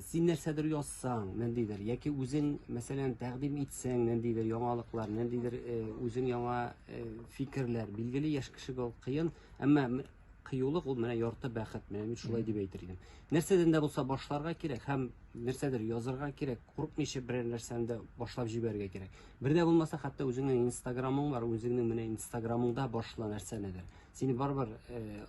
Син нәрсәдер язсаң, ниндидер, яки үзең, мәсәлән, тәкъдим итсәң, ниндидер яңалыклар, ниндидер э, үзең яңа э, фикерләр, билгеле яшь кешегә ул кыен, әмма м- кыюлык ул менә ярты бәхет, менә мин шулай дип әйтер идем. Нәрсәдән дә булса башларга кирәк һәм нәрсәдер язырга кирәк, курыкмыйча берәр нәрсәне дә башлап җибәрергә кирәк. Бер дә булмаса, хәтта үзеңнең инстаграмың бар, үзеңнең менә инстаграмыңда башла нәрсәнедер. Сине барыбер э,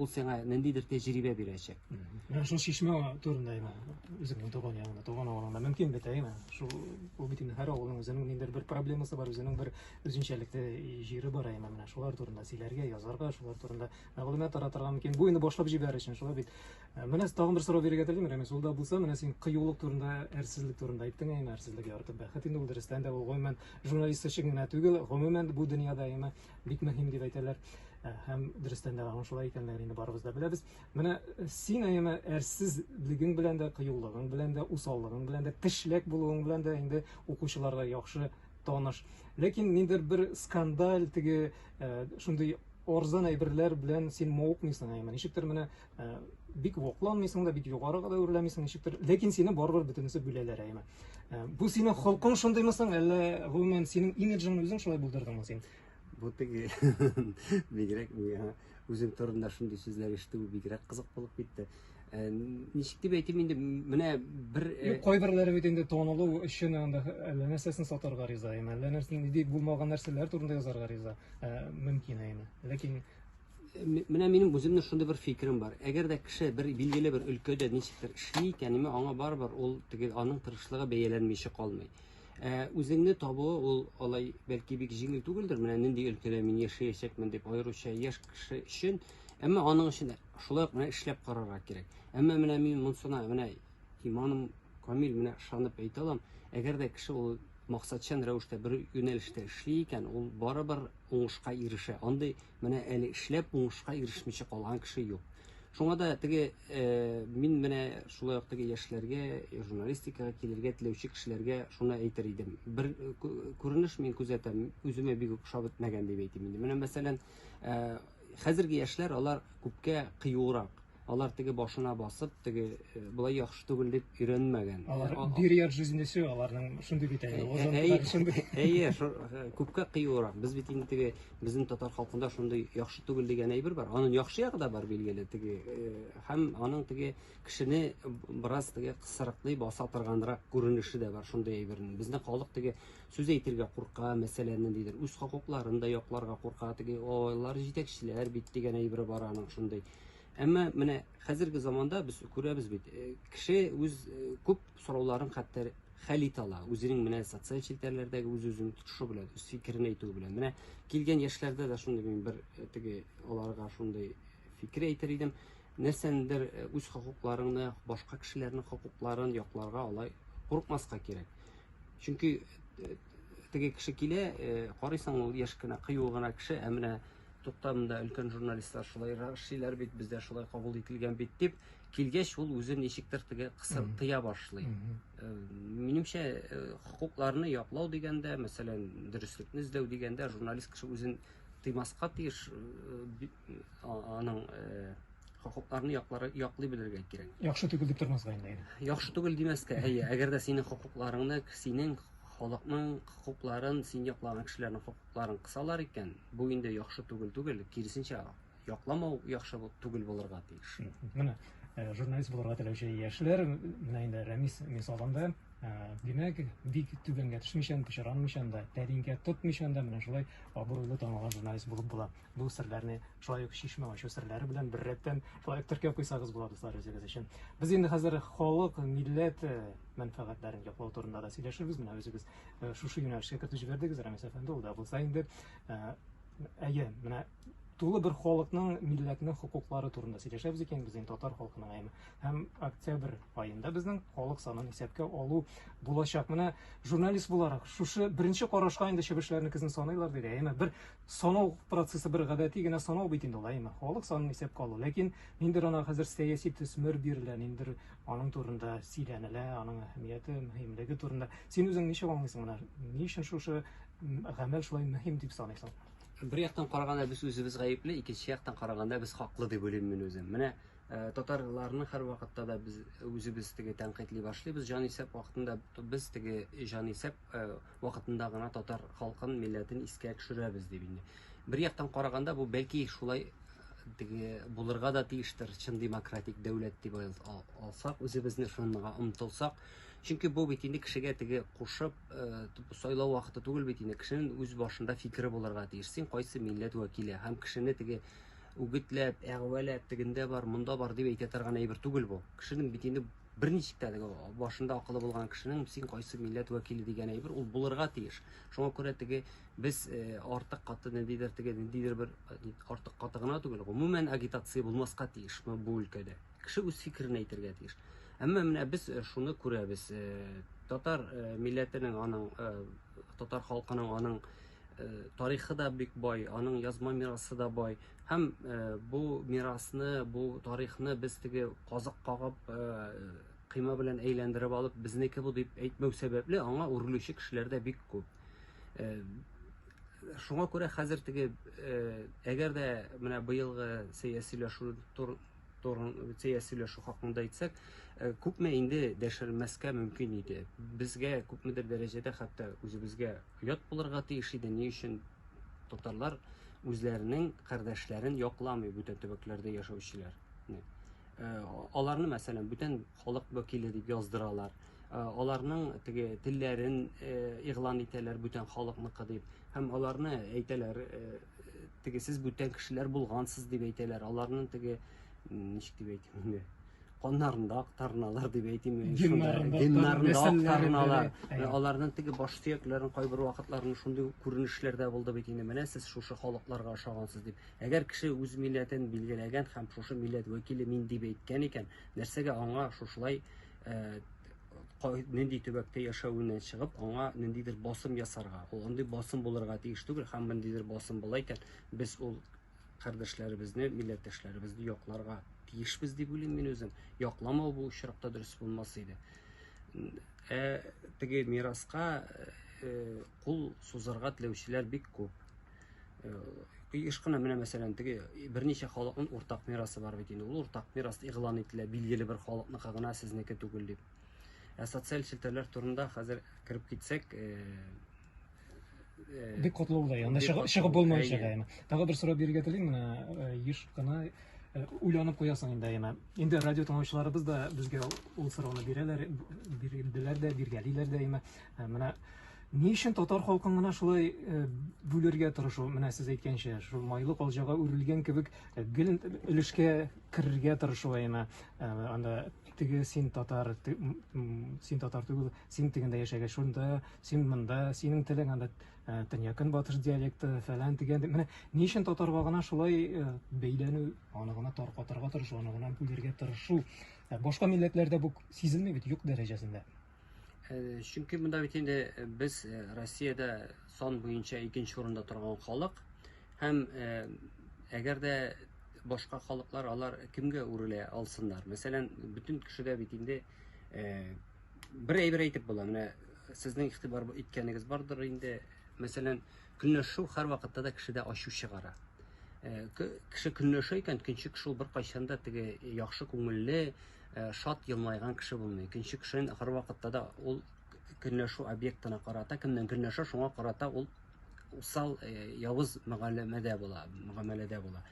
ул сиңа ниндидер тәҗрибә бирәчәк. Менә шул чишмә турында әйме, үзеңнең туган ягыңда, туган авылыңда мөмкин бит әйме? Шул ул бит инде һәр авылның үзенең ниндидер бер проблемасы бар, үзенең бер үзенчәлекле җире бар әйме. Менә шулар турында сөйләргә, язарга, шулар турында мәгълүмат таратырга мөмкин. Бу инде башлап җибәр өчен, шулай бит. Э, менә тагын бер сорау бирергә телим, Рәмис, ул да булса, менә син кыюлык турында, әрсезлек турында әйттең әйме, әрсезлек ярты бәхет инде ул дөрестән дә, ул гомумән журналист өчен генә түгел, гомумән бу дөньяда әйме. бик мөһим дип әйтәләр һәм дөрестән дә аның шулай икәнлеген инде барыбыз да беләбез менә син әйеме әрсезлегең белән дә кыюлыгың белән дә усаллыгың белән дә тешләк булуың белән дә инде укучыларга яхшы таныш ләкин ниндер бер скандаль теге шундый орзан әйберләр белән син мавыкмыйсың әйеме ничектер менә Ә, бик вокланмыйсың да, бик югарыга да үрләмисең ничектер, ләкин сине барыбер бөтенесе бүләләр әйме. Ә, бу синең холкың шундыймы соң, әллә гомумән синең имиджың үзең шулай булдырдыңмы син? Бу теге бигрәк миңа үзем турында шундый сүзләр ишетү бигрәк кызык булып китте. Ә, ничек дип әйтим инде, менә бер э, Юк, кайберләре бит инде танылу өчен анда әллә нәрсәсен сатарга риза, әйме, әллә нәрсә нинди булмаган нәрсәләр турында язарга риза, ә, мөмкин әйме. Ләкин Менә минем үземне шундый бер фикерем бар. Әгәр дә кеше бер билгеле бер өлкәдә ничектер эшли икән, ме аңа барыбер ул теге аның тырышлыгы бәяләнмичә калмый. Ә үзеңне табуы ул алай бәлки бик җиңел түгелдер. Менә нинди өлкәдә мин яшәячәкмен дип аеруча яшь кеше өчен. Әмма аның өчен шулай ук менә эшләп карарга кирәк. Әмма менә мин монсына менә Иманым камил, менә ышанып әйтә алам. Әгәр дә кеше ул максатчан рәвештә бер юнәлештә эшли икән, ул барыбер уңышка ирешә. Андый менә әле эшләп уңышка ирешмичә калган кеше юк. Шуңа да теге э, мин менә шулай ук теге яшьләргә, журналистикага килергә теләүче кешеләргә шуны әйтер идем. Бер э, күренеш мин күзәтәм, үземә бик үк ошап бетмәгән дип әйтим инде. Менә мәсәлән, э, хәзерге яшьләр алар күпкә кыюрак Алар теге башына басып, теге болай яхшы түгел дип өйрәнмәгән. Алар бир яр жизни все, аларның шундый бит әле. Әйе, күпкә кыюрак. Без бит инде теге безнең татар халкында шундый яхшы түгел дигән әйбер бар. Аның яхшы ягы да бар билгеле теге. Һәм аның теге кешене бераз теге кысырыклый баса торганрак күренеше дә бар шундый әйбернең. Безнең халык теге сүз әйтергә курка, мәсәлән, ниндидер үз хокукларын да якларга курка. Теге олар җитәкчеләр бит дигән әйбер бар аның шундый. Әмма менә хәзерге заманда без күрәбез бит, э, кеше үз э, күп сорауларын хәтта хәл итә ала. Үзенең менә социаль челтәрләрдәге үз-үзен тотышы белән, үз фикерен әйтү белән. Менә килгән яшьләрдә дә шундый мин бер э, теге аларга шундый фикер әйтер идем. Нәрсәндер үз хокукларыңны, башка кешеләрнең хокукларын якларга алай курыкмаска кирәк. Чөнки теге кеше килә, карыйсың ул яшь кенә, кыю гына кеше, ә менә Туктам да өлкән журналистлар шулай эшлиләр бит, бездә шулай кабул ителгән бит дип, килгәч ул үзе ничектер теге кысыр тыя башлый. Э, минемчә, э, хокукларны яклау дигәндә, мәсәлән, дөреслекне эзләү дигәндә, журналист кеше үзен тыймаска тиеш, э, аның хокукларны яклары яклый белергә кирәк. Яхшы түгел дип тормаска инде. Яхшы түгел димәскә, әйе, әгәр дә синең хокукларыңны, синең халыкның хокукларын, син яклаган кешеләрнең хокукларын кысалар икән, Бу инде яхшы түгел түгел, киресенчә, якламау яхшы түгел булырга тиеш. Менә э, журналист булырга теләүче яшьләр, менә инде Рәмис мисалында, э, димәк, бик түбәнгә төшмичән, пычранмыйчан да, тәринкә тотмыйчан да менә шулай абруйлы танылган журналист булып була. Бу серләрне шулай ук чишмә ачу серләре белән бер рәттән шулай ук теркәп куйсагыз була, дуслар, үзегез өчен. Без инде хәзер халык, милләт э, мәнфәгатьләрен яклау турында да сөйләшербез, менә үзегез э, шушы юнәлешкә кертеп җибәрдегез, Рәмис әфәнде, ул да булса инде. Э, әйе, менә тулы бер халыкның, милләтнең хокуклары турында сөйләшәбез икән, без инде татар халкының әйме. Һәм октябрь аенда безнең халык санын исәпкә алу булачак. Менә журналист буларак шушы беренче карашка инде чебешләрне кизен саныйлар диде. Әйме бер санау процессы бер гадәти генә санау бит инде ул, әйме халык санын исәпкә алу. Ләкин ниндер ана хәзер сәяси төсмер бирелә, ниндер аның турында сөйләнелә, аның әһәмияте, мөһимлеге турында. Син үзең ничек аңлыйсың моны? Ни өчен шушы гамәл шулай мөһим дип саныйсың? Бер яктан караганда без үзебез гаепле, икенче яктан караганда без хаклы дип уйлыйм мин үзем. Менә э, татарларны һәрвакытта да без үзебез теге тәнкыйтьли башлыйбыз. Җанисәп вакытында без теге җанисәп вакытында гына татар халкын, милләтен искә төшерәбез дип инде. Бер яктан караганда бу бәлки шулай теге булырга да тиештер чын демократик дәүләт дип алсак үзебезне шунга омтылсак чөнки бу бит инде кешегә теге кушып э, сайлау вакыты түгел бит инде кешенең үз башында фикере булырга тиеш син кайсы милләт вәкиле һәм кешене теге үгетләп әгъвәләп тегендә бар монда бар дип әйтә торган әйбер түгел бу кешенең бит инде Берничек тә теге башында акылы булган кешенең син кайсы милләт вәкиле дигән әйбер ул булырга тиеш. Шуңа күрә теге без э, артык каты ниндидер теге ниндидер бер э, артык каты гына түгел, гомумән агитация булмаска тиеш бу өлкәдә. Кеше үз фикерен әйтергә тиеш. Әмма менә без э, шуны күрәбез. Татар милләтенең аның татар халкының аның тарихы да бик бай, аның язма мирасы да бай. Һәм э, бу мирасны, бу тарихны без теге казык кагып, э, кыйма белән әйләндереп алып, безнеке бу дип әйтмәү сәбәпле, аңа үрелүче кешеләр дә бик күп. Э, шуңа күрә хәзер теге, әгәр дә менә быелгы сәяси сөйләшү Торция сөйләшү хакында әйтсәк, э, күпме инде дәшермәскә мөмкин иде. Безгә күпмедер дәрәҗәдә хәтта үзебезгә оят булырга тиеш иде. Ни өчен татарлар үзләренең кардәшләрен якламый бүтән төбәкләрдә яшәүчеләр. Э, аларны, мәсәлән, бүтән халык вәкиле дип яздыралар. Э, аларның теге телләрен игълан итәләр бүтән халыкныкы дип һәм аларны әйтәләр теге сез бүтән кешеләр булгансыз дип әйтәләр. Аларның теге ничек дип әйтим инде? Каннарында актарналар дип әйтим. Геннарында актарналар. Аларның теге баш сөякләрен кайбер вакытларында шундый күренешләрдә булды бит инде. Менә сез шушы халыкларга ошагансыз дип. Әгәр кеше үз милләтен билгеләгән һәм шушы милләт вәкиле мин дип әйткән икән, нәрсәгә аңа шушылай э, нинди төбәктә яшәвеннән чыгып, аңа ниндидер басым ясарга. Ул андый басым булырга тиеш түгел, һәм ниндидер басым була икән, без ул кардәшләребезне, милләттәшләребезне якларга тиешбез дип уйлыйм мин үзем. Якламау бу очракта дөрес булмас иде. Ә теге мираска кул сузарга теләүчеләр бик күп. еш кына менә мәсәлән теге берничә халыкның уртак мирасы бар бит инде ул уртак мирас игълан ителә билгеле бер халыкныкы гына сезнеке түгел дип ә социаль челтәрләр турында хәзер кереп китсәк бик катлаулы анда чыгып булмаячак әйме тагы бер сорау бирергә телим менә еш кына уйланып куясың инде әйме инде радио тыңлаучыларыбыз да безгә ул сорауны бирәләр бирделәр дә биргәлиләр дә әйме Ә менә ни өчен татар халкын гына шулай э, бүлергә тырышу? Менә сез әйткәнчә, шул майлы калҗага үрелгән кебек э, гел өлешкә керергә тырышу әйме? Э, анда теге син татар, син татар түгел, син тегендә яшәгән, шунда, син монда, синең телең анда төньякын батыш диалекты фәлән дигән. Менә ни өчен татарга гына шулай бәйләнү, аны гына таркатырга тырышу, аны гына бүлергә тырышу? Башка милләтләрдә бу сизелми бит, юк дәрәҗәсендә. Э, чөнки монда бит инде э, без э, Россиядә сан буенча икенче урында торган халык һәм әгәр дә башка халыклар алар кемгә үрелә алсыннар? Мәсәлән, бөтен кешедә бит инде бер әйбер әйтеп була. Менә сезнең игътибар иткәнегез бардыр инде. Мәсәлән, көнләшү һәрвакытта да кешедә ачу чыгара. Кеше көнләшә икән, көнче кеше ул беркайчан да теге яхшы күңелле, Э, шат елмайган кеше булмый икенче кешенен ахыр вакытта да ул көнләшү объектына карата кемнән көнләшә шуңа карата ул усал э, явыз мөгамәләдә була мөгамәләдә була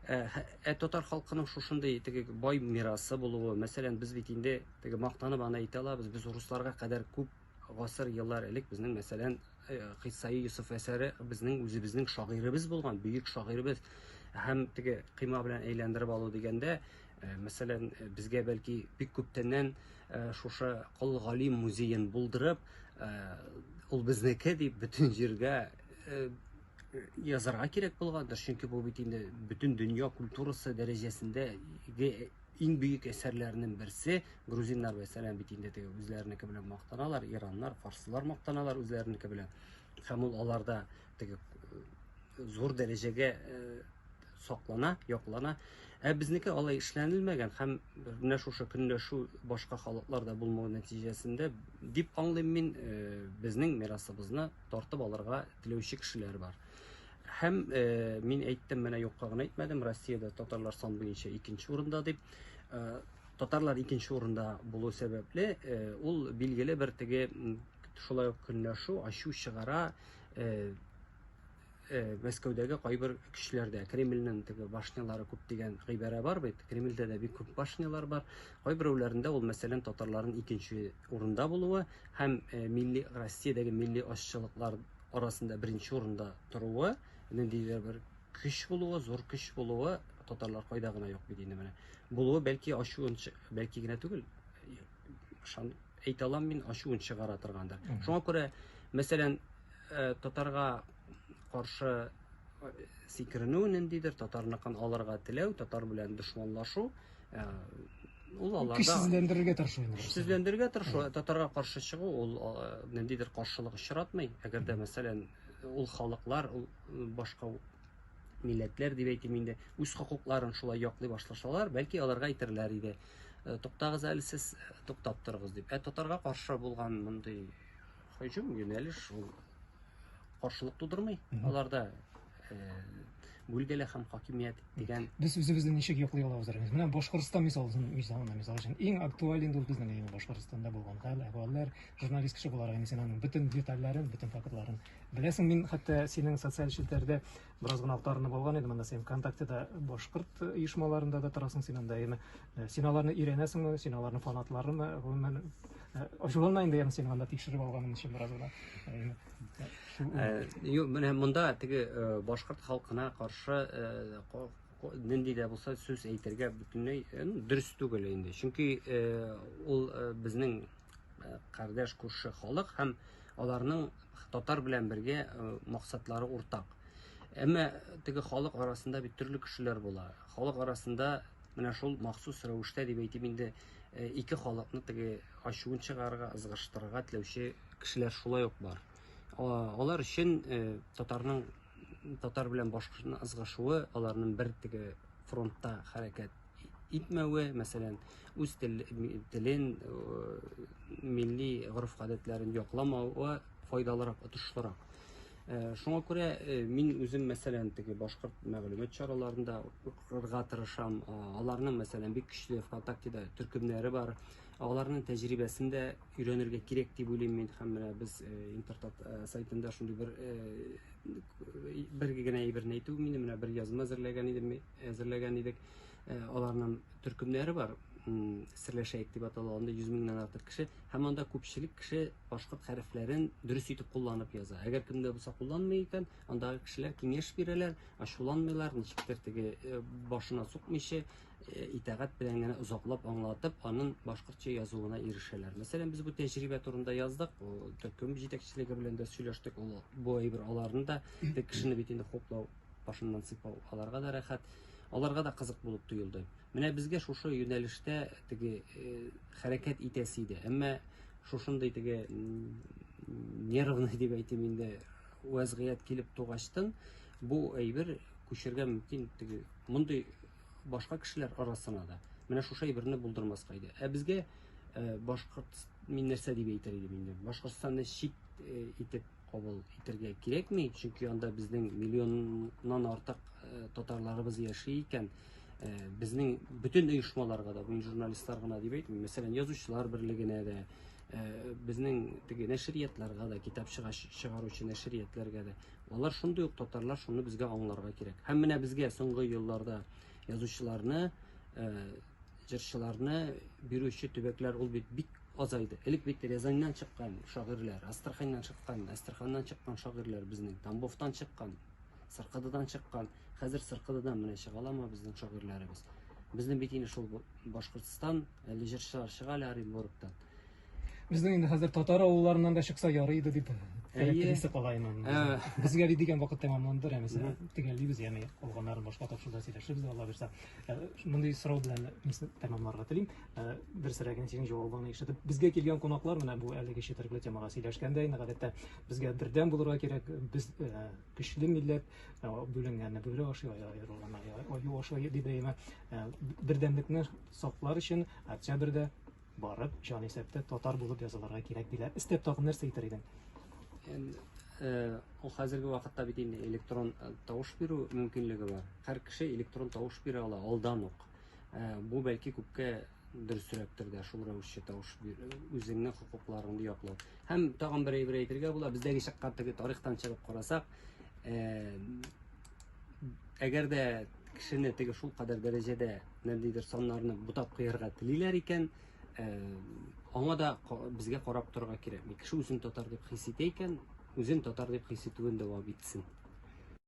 э, ә татар халкының шушындый теге бай мирасы булуы мәсәлән без бит инде теге мактанып аны әйтә алабыз без русларга кадәр күп Гасыр еллар элек безнең, мәсәлән, э, Кыйсаи Юсуф әсәре безнең үзебезнең шагыйребез булган, бөек шагыйребез һәм теге кыйма белән әйләндереп алу дигәндә, э, мәсәлән, э, безгә бәлки бик күптәннән э, шушы Кол Гали музеен булдырып, ул безнеке дип бөтен җиргә язарга кирәк булгандыр, чөнки бу бит инде бөтен дөнья культурасы дәрәҗәсендә Иң бөек әсәрләренең берсе грузиннар мәсәлән бит инде теге үзләренеке белән мактаналар, ираннар, фарслар мактаналар үзләренеке белән. Һәм ул аларда теге э, зур дәрәҗәгә э, саклана, яклана. Ә безнеке алай эшләнелмәгән һәм менә шушы көнләшү башка халыкларда булмау нәтиҗәсендә дип аңлыйм мин, э, безнең мирасыбызны тартып алырга теләүче кешеләр бар. Һәм э, мин әйттем, менә юкка гына әйтмәдем, Россиядә татарлар сан буенча икенче урында дип. Э, татарлар икенче урында булу сәбәпле, э, ул билгеле бер теге шулай ук көнләшү, ачу чыгара, э, Э, мәскәүдәге кайбер кешеләрдә кремльнең теге башнялары күп дигән гыйбарә бар бит кремльдә дә бик күп башнялар бар кайберәүләрендә ул мәсәлән татарларның икенче урында булуы һәм э, милли россиядәге милли ашчылыклар арасында беренче урында торуы, ниндидер бер көч булуы, зур көч булуы, татарлар кайда гына юк бит инде менә. Булуы бәлки ачуын, бәлки генә түгел, шан әйтә алам мин, ачуын чыгара торгандыр. Шуңа күрә, мәсәлән, э, татарга каршы э, сикеренү ниндидер, татарныкын алырга теләү, татар белән дошманлашу, Ә, ул аларда көчсезләндерергә тырышу инде көчсезләндерергә тырышу татарга каршы чыгу ул ниндидер каршылык очратмый әгәр дә мәсәлән ул халыклар ул башка милләтләр дип әйтим инде үз хокукларын шулай яклый башласалар бәлки аларга әйтерләр иде туктагыз әле сез туктап торыгыз дип ә татарга каршы булган мондый Һөҗүм юнәлеш шул каршылык тудырмый. Аларда бүлгәле һәм хакимият дигән без үзебезне ничек яклый алабыз рәмиз менә башкортстан мисалын мисалына мисал өчен иң актуаль инде ул безнең әйе башкортстанда булган хәл әхвәлләр журналист кеше буларак инде син аның бөтен детальләрен бөтен фактларын беләсең мин хәтта синең социаль челтәрдә Бераз гына актарынып алган идем анда син ВКонтактеда башкорт оешмаларында да торасың син анда яме э, син аларны өйрәнәсеңме син аларны фанатларымы гомумән э, ачуланма инде яме син анда тикшереп алганым өчен бераз гына э, юк менә монда теге башкорт халкына каршы нинди дә булса сүз әйтергә бөтенләй дөрес түгел инде чөнки ул безнең э, кардәш күрше халык һәм аларның татар белән бергә э, максатлары уртак. Әмма теге халык арасында бит төрле кешеләр була. Халык арасында менә шул махсус рәвештә дип әйтим инде э, ике халыкны теге ачуын чыгарырга, ызгыштырырга теләүче кешеләр шулай ук бар. Алар өчен э, татарның татар белән башкортның ызгышуы, аларның бер теге фронтта хәрәкәт итмәве, мәсәлән, үз телен, милли гореф-гадәтләрен якламавы файдалырак, отышлырак. Э, шуңа күрә э, мин үзем мәсәлән теге башкорт мәгълүмат чараларында укырга тырышам э, аларның мәсәлән бик көчле вконтактеда төркемнәре бар аларның тәҗрибәсен дә өйрәнергә кирәк дип уйлыйм мин һәм менә без интертат сайтында шундый бер бер генә әйберне әйтү мин менә бер язма әзерләгән идем әзерләгән идек. Э, аларның төркемнәре бар, серләшәек дип атала, анда 100 меңнән артык кеше, һәм анда күпчелек кеше башкорт хәрефләрен дөрес итеп кулланып яза. Әгәр кемдә булса кулланмый икән, анда кешеләр киңәш бирәләр, ачуланмыйлар, ничектер теге э, башына сукмыйча э, итагать белән генә озаклап аңлатып, аның башкортча язуына ирешәләр. Мәсәлән, без бу тәҗрибә турында яздык, төркем җитәкчелеге белән дә сөйләштек, ул бу әйбер аларны да кешене бит инде хуплау башыннан сыйпау аларга да рәхәт, аларга да кызык булып тоелды. Менә безгә шушы юнәлештә теге э, хәрәкәт итәсе иде. Әмма шушындый теге нервный дип әйтим инде вәзгыять килеп тугачтын, бу әйбер күчергә мөмкин теге мондый башка кешеләр арасына да. Менә шушы әйберне булдырмаска иде. Ә безгә э, башкорт мин нәрсә дип әйтер идем инде? Башкортстанны чит э, итеп кабул итергә кирәкми, чөнки анда безнең миллионнан артык э, татарларыбыз яши икән. Э, безнең бөтен оешмаларга да, бу журналистлар гына дип әйтмим, мәсәлән, язучылар берлегенә дә, э, безнең теге нәшриятларга да, китап чыгаручы нәшриятләргә дә. Алар шундый ук татарлар, шуны безгә аңларга кирәк. Һәм менә безгә соңгы елларда язучыларны, җырчыларны бирүче төбәкләр ул бит бик азайды. Элек бит Рязаньнан чыккан шагыйрьләр, Астраханьнан чыккан, Әстерханнан чыккан шагыйрьләр безнең, Тамбовтан чыккан, Сыркыдыдан чыккан. Хәзер Сыркыдыдан менә чыга аламы безнең шагыйрьләребез? Безнең бит инде шул Башкортстан, әле җырчылар чыга әле Оренбургтан. Безнең инде хәзер татар авылларыннан да чыкса ярый иде дип теләктесе кала инде. Безгә бит дигән вакыт тәмамланды, рәмисә. Төгәллибез, ягъни калганнарын башка тапшыруда сөйләшербез, Алла бирса. Мондый сорау белән тәмамларга телим. Ә, берсерәген синең җавабыңны ишетеп, безгә килгән кунаклар менә бу әлеге четерекле темага сөйләшкәндә инде гадәттә безгә бердәм булырга кирәк, без ә, көчле милләт, ә, бүленгәнне бүре ашый, аерылганны аю ашый дип әйме. Ә, бердәмлекне саклар өчен октябрьдә барып, җан исәптә татар булып язылырга кирәк диләр. Истәп тагын нәрсә әйтер идең? Енді, ә, ул хәзерге вакытта бит инде электрон ә, тавыш бирү мөмкинлеге бар. Һәр кеше электрон тавыш бирә ала алдан ук. Ә, бу бәлки күпкә дөресрәктер дә шул рәвешчә тавыш үзеңне хокукларыңды яклау. Һәм тагын бер әйбер әйтергә була, бездәге чакка теге тарихтан чыгып карасак, ә, әгәр дә кешене теге шул кадәр дәрәҗәдә нәндидер саннарны бутап куярга телиләр икән, ә, аңа да безгә карап торырга кирәк. Кеше үзен татар дип хис итә икән, үзен татар дип хис итүен дәвам итсен.